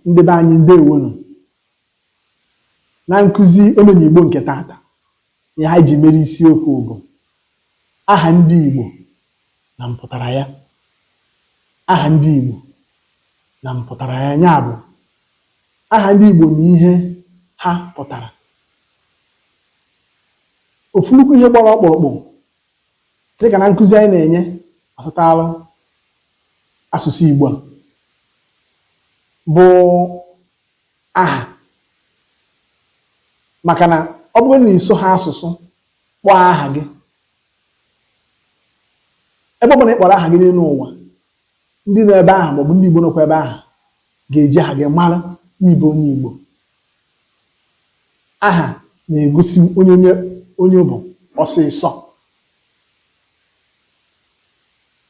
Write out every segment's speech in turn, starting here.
Ndị be anyị ndewonụ. Na nkuzi Omenigbo nke taata, ihe anyị ji mere isiokwu bụ aha ndị Igbo na mpụtara ya. Aha ndị Igbo na mpụtara ya, ya bụ aha ndị Igbo na ihe ha pụtara. Ofu nnukwu ihe gbara ọkpụrụkpụ Dịka na nkuzi anyị na-enye gbasatara asụsụ Igbo a bụ aha maka na ọ bụrụ na iso ha asụsụ kpọọ aha gị ebe ọ bụla ị kpọrọ aha gị n'elu ụwa ndị nọ ebe ahụ maọbụ ndị Igbo nọkwa ebe ahụ ga-eji aha gị mara na ị bụ onye Igbo Aha na-egosi onye onye bụ ọsịsọ.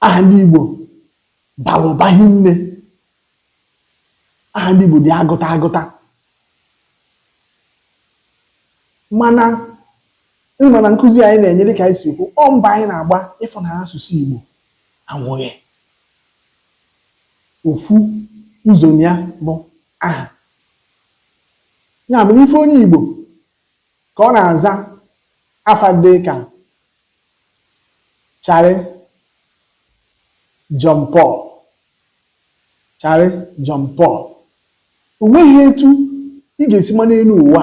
Aha ndị Igbo bara ụba hinne. Aha ndị Igbo dị agụta agụta. Mana ị ma na nkụzi anyị na-enye dịka anyị si ekwu, ọ mbọ anyị na-agba ịfụ na asụsụ Igbo anwụghị. Ofu ụzọ ya bụ aha. Ya bụ ị fụ onye Igbo ka ọ na-aza afa dị ka Charlie John Paul Charlie John Paul o nweghị etu ị ga-esi ma n'elu ụwa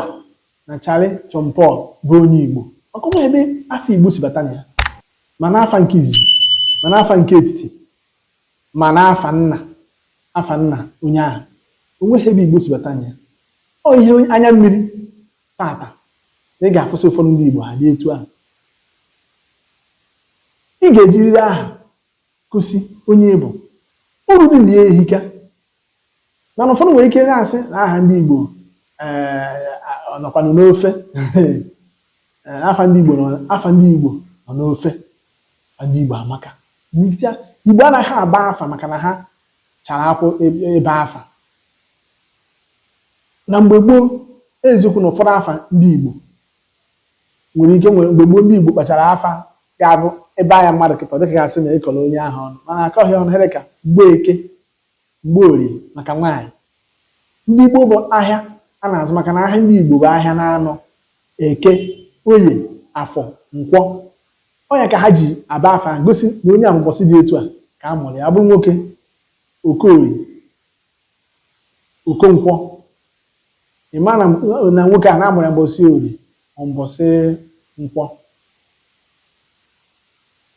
na Charlie John Paul bụ onye Igbo maka ọ ebe afa Igbo si bata na ya ma n'afa nke izizi ma n'afa nke etiti Ma n'afa Nna, afa Nna onye ahụ, o nweghị ebe Igbo si bata na ya. Ọ ihe anya mmiri tata na ị ga-afụsị ụfọdụ ndị Igbo ha dị etu ahụ. Ị ga-ejiriri aha gosi onye ị bụ. Uru dị na ya ehika. Mana ụfọdụ nwere ike na-asị na aha ndị Igbo eh, nọkwanụ n'ofe eh, afa ndị Igbo afa ndị Igbo nọ n'ofe afa ndị Igbo amaka Igbo anaghị aba afa maka na ha chara akwụ e, ebe afa na mgbe gboo eziokwu na ụfọdụ afa ndị Igbo nwere ike nwere mgbe gboo ndị Igbo kpachara afa ga-abụ ị baa ya mmadụ kịta ọ dịka gasị na ị kọrọ onye ahụ ọnụ mana akọghị ọnụ ihe dị ka Mgbeke Mgborie maka nwaanyị. Ndị Igbo bụ ahịa a na-azụ maka na ahịa ndị Igbo bụ ahịa n'anọ, Eke, Oye, Afọ, Nkwọ. Ọ ya ka ha ji aba afa ahụ gosi na onye a bụ mbọsị dị etu a ka a mụrụ ya. Ọ bụrụ nwoke, Okorie, Okonkwọ. Ị ma na nwoke a na a mụrụ ya mbọsị Orie ma mbọsị Nkwọ.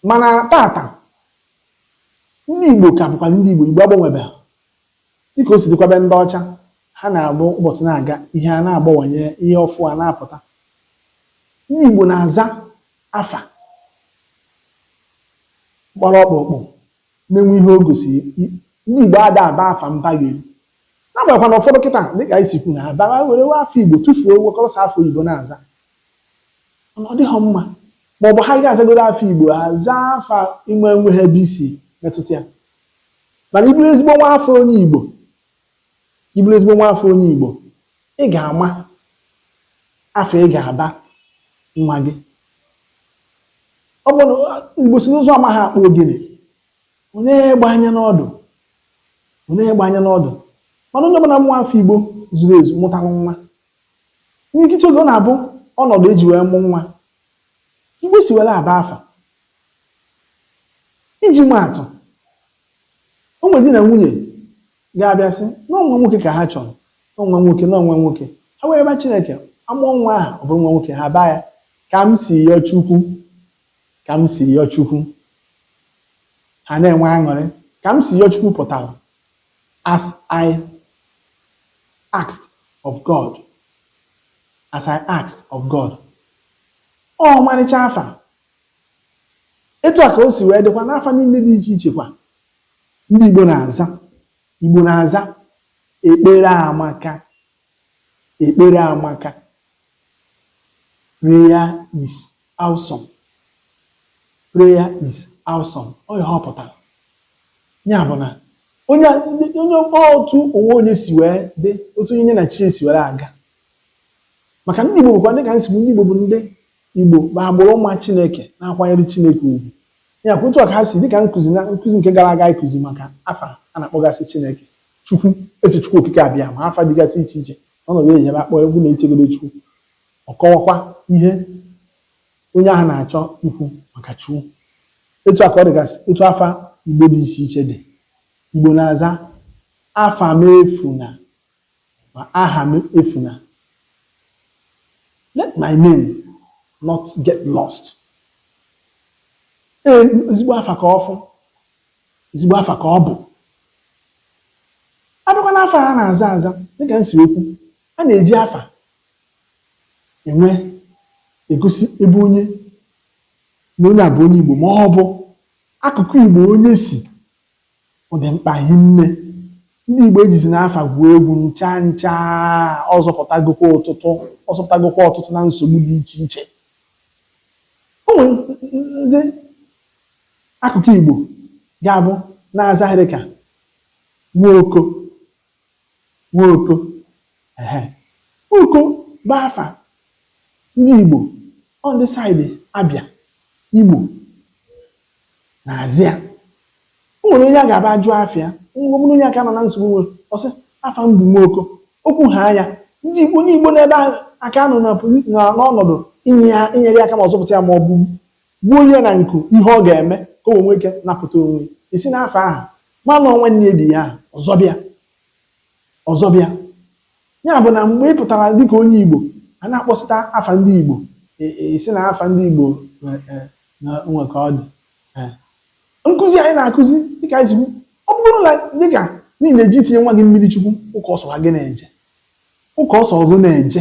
Mana tata, Ndị Igbo ka bụkwara ndị Igbo, Igbo agbanwebeghị. Dịka o si dịkwa be ndị ọcha, ha na-abụ ụbọchị na-aga, ihe a na-agbawanye, ihe ọfụ a na-apụta. Ndị Igbo na-aza afa gbara ọkpụrụkpụ na-enwe ihe o gosiri. Ndị Igbo ada aba afa mpagheri. N'agbanyeghịkwa na ụfọdụ kịta dịka anyị si kwu na ha bịara were afa Igbo tụfuo wekọrọ sọ afa oyibo na-aza. mana ọ dịghọ mma maọbụ ha ga-azagodo afa Igbo ha zaa afa na-enweghọ ebe o si metụta ya mana ị bụrụ ezigbo nwa afọ onye Igbo ị bụrụ ezigbo nwa afọ onye Igbo ị ga-ama afa ị ga-aba nwa gị ọ bụ na Igbo sị na ụzụ amaghị akpụ ogene nee egbe anya n'ọdụ nee egbe anya n'ọdụ mana onye ọbụla nwa afọ Igbo zuru ezu mụtara nwa N'imirikiti oge, ọ na-abụ ọnọdụ e ji wee mụ nwa ka Igbo si were aba afa. Iji maa atụ, o nwere di na nwunye ga-abịa sị na ọ nwa nwoke ka ha chọrọ, na ọ nwa nwoke, na ọ nwa nwoke. Ha wee yọba Chineke, a mụọ nwa ahụ, ọ bụrụ nwa nwoke, ha abaa ya ka m si yọọ Chukwu, ka m si yọọ Chukwu. Ha na-enwe aṅụrị. Ka m si yọọ Chukwu pụtara As I asked of God As I asked of God Ọ ọmarịcha afa. Etu a ka o si wee dịkwa n'afa niile dị iche iche kwa ndị Igbo na-aza. Igbo na-aza ekpere amaka. Ekpere amaka. Prayer is awesome. Prayer is awesome. Ọ ihe ọ pụtara. Ya bụ na onye onye otu ụwa onye si wee dị otu onye na chi ya si were aga maka ndị Igbo bụkwa dịka m si kwu ndị Igbo bụ ndị Igbo bụ agbụrụ ma Chineke na-akwanyere Chineke ugwu ya kwa otu a ka ha si dịka nkụzi na nkụzi nke gara aga ịkụzi maka afa a na-akpọgasị Chineke Chukwu, Eze Chukwu Okike Abịama, afa dịgasị iche iche n'ọnọdụ e ji wee akpọ ya bụ na e chegodo Chukwu, ọ kọwakwa ihe onye ahụ na-achọ ikwu maka Chukwu. Etu a ka ọ dịgasị otu afa Igbo dị iche iche dị. Igbo na-aza, Afa m efuna ma aha m efuna. Let my name not get lost. Ee, ezigbo afa ka ọ bụ. ezigbo afa ka ọ bụ a bịakwa n'afa a na-aza aza dịka m si ekwu a na-eji afa wee egosi ebe onye na onye a bụ onye Igbo ma ọ bụ akụkụ Igbo onye si ọ dị mkpa hinne ndị Igbo ejizina afa gwuo egwu ncha ncha ọ zọpụtagokwa ọtụtụ ọ zọpụtagokwa ọtụtụ na nsogbu dị iche iche o nwere ndị Akụkọ Igbo ga-abụ na-aza ihe dị ka Nwaoko Nwaoko ehe oko bụ afa ndị Igbo ọ ndị side Abịa Imo na-azị ya o nwere onye a ga-aba ajụ afịa mgbe onye aka nọ na nsogbu nwere ọ sị afa m bụ Nwaoko o kwu ha anya ndị onye Igbo n'ebe ahụ aka nọ na poli- na- n'ọnọdụ inye ya inyere ya aka ma ọ zọpụta ya ma ọ bụ Gbuolu ya na nku ihe ọ ga-eme ka o wee nwee ike napụta onwe ya. E si n'afa ahụ mara na ọ nwanne ya di ya ahụ, ọ zọba ya. Ọ zọba ya. Ya bụ na mgbe ị pụtara dịka onye Igbo, a na-akpọsịta afa ndị Igbo, e e sị na afa ndị Igbo e e na o nwere ka ọ dị. Ee. Nkụzi anyị na-akụzi dịka anyị si kwu, ọ bụrụ na dịka n'ihi na e ji etinye nwa gị mmiri Chukwu ụka ọ sọ gị na-eje. Ụka ọ sọ gị na-eje.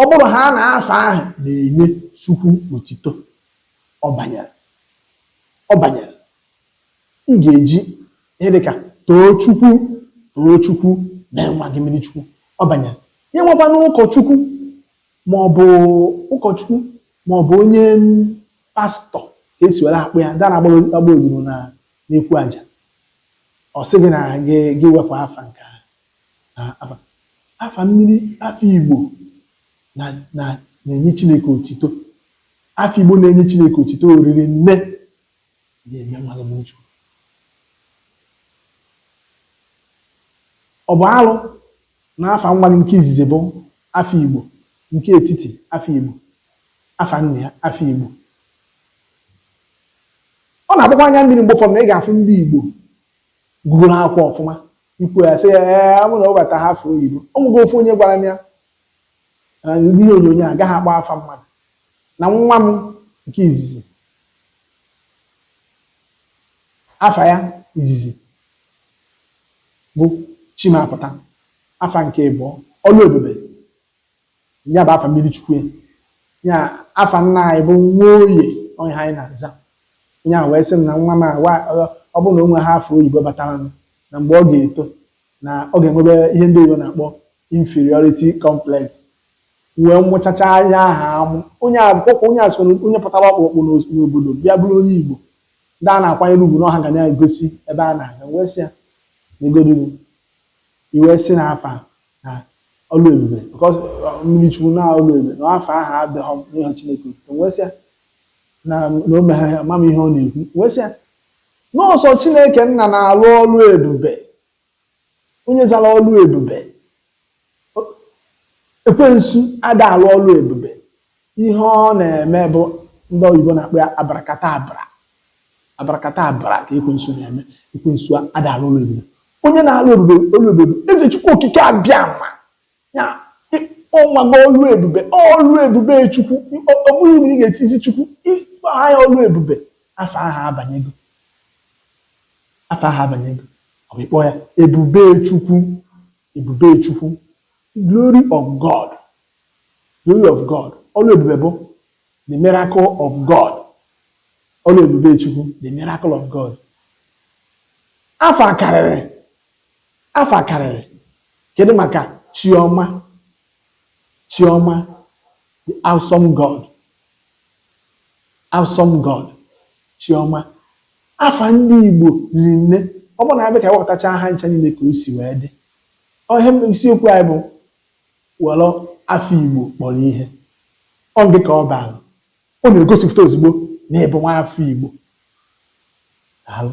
Ọ bụrụ ha na afa ahụ na-enye Chukwu otito, ọ banyere. Ọ banyere. Ị ga-eji ihe dị ka Toochukwu, Toochukwu, mee nwa gị mmiri Chukwu. Ọ banyere. Ya enwekwanụ ụkọchukwu ma ọ bụ ụkọchukwu ma ọ bụ onye pastọ ka e si were akpọ ya, ndị na-agba odibo na n'ekwu aja. Ọ sị gị na gị gị wepụ afa nke ahụ. na afa afa mmiri afa Igbo na na na-enye Chineke otito afa Igbo na-enye Chineke otito oriri nne ya eme mmadụ mmiri Chukwu ọ bụ alụ na afa nwa gị nke izizi bụ afa Igbo nke etiti afa Igbo afa nna ya afa Igbo ọ na-agbakwa anya mmiri mgbe ụfọdụ na ị ga-afụ ndị Igbo gụgụrụ akwụkwọ ọfụma ikwu ya sị ya ee ọ bụrụ na ọ bata ha afa oyibo ọ nwego ofu onye gwara m ya na ndị ihe onyonyo a agaghị akpọ afa mmadụ na nwa m nke izizi afa ya izizi bụ Chimapụta afa nke ịbụọ Ọlụebube Ya bụ afa mmiri Chukwu ya afa nna anyị bụ Nwoye ọ ihe anyị na-aza. Onye ahụ wee sị m na nwa m a wa ọ ọ bụrụ na o nweghị afa oyibo bataranụ na mgbe ọ ga-eto na ọ ga-enwebe ihe ndị oyibo na-akpọ inferiority complex. M wee mụchacha onye aha amụ. Onye a kwa onye a sịkwa na onye pụtara ọkpụrụkpụ n'os- n'obodo bịa bụrụ onye Igbo ndị a na-akwanyere ugwu na ọha ga na-egosi ebe a na-aga. M wee sị ya negodinu i wee sị na afa na Ọlụebube because uh, mmiri Chukwu na Ọlụebube na afa ahụ adịghọ enye Chineke otuto m wee sị ya na na o megha ya ma m ihe ọ na-ekwu wee sị ya n'ọ sọ Chineke Nna na-alụ ọlụ ebube onye zara Ọlụebube O- ekwensu ada alụ ọlụ ebube Ihe ọ na-eme bụ ndị oyibo na-akpọ ya abarakatabra. Abarakatabra ka ekwensu na-eme. Ekwensu ada alụ ọlụ ebube. Onye na-alụ ebube ọlụ ebube bụ Eze Chukwu Okike Abịama. Ya ọ mago ọlụ ebube, ọlụ ebube Chukwu. Ọ ọ bụghị na ị ga-etizi Chukwu, ịkpọ ya ọlụ ebube, afa ahụ abanyego. Afa ahụ abanyego. Ọ bụ ịkpọ ya ebube Chukwu. Ebube Chukwu, the glory of God, glory of God, ọlụ ebube bụ the miracle of God, ọlụ ebube Chukwu, the miracle of God. Afa karịrị, afa karịrị, kedu maka Chioma, Chioma, the awesome God. Awesome God, Chioma, afa ndị Igbo riri nne, ọ bụrụ na a bịa ka e wepụtachaa ha ncha niile ka o si wee dị. Ọ ihe m- isiokwu anyị bụ were afa Igbo kpọrọ ihe. Ọ ngị ka ọ bara. Ọ na-egosipụta ozugbo na ị bụ nwa afọ Igbo. Daalụ.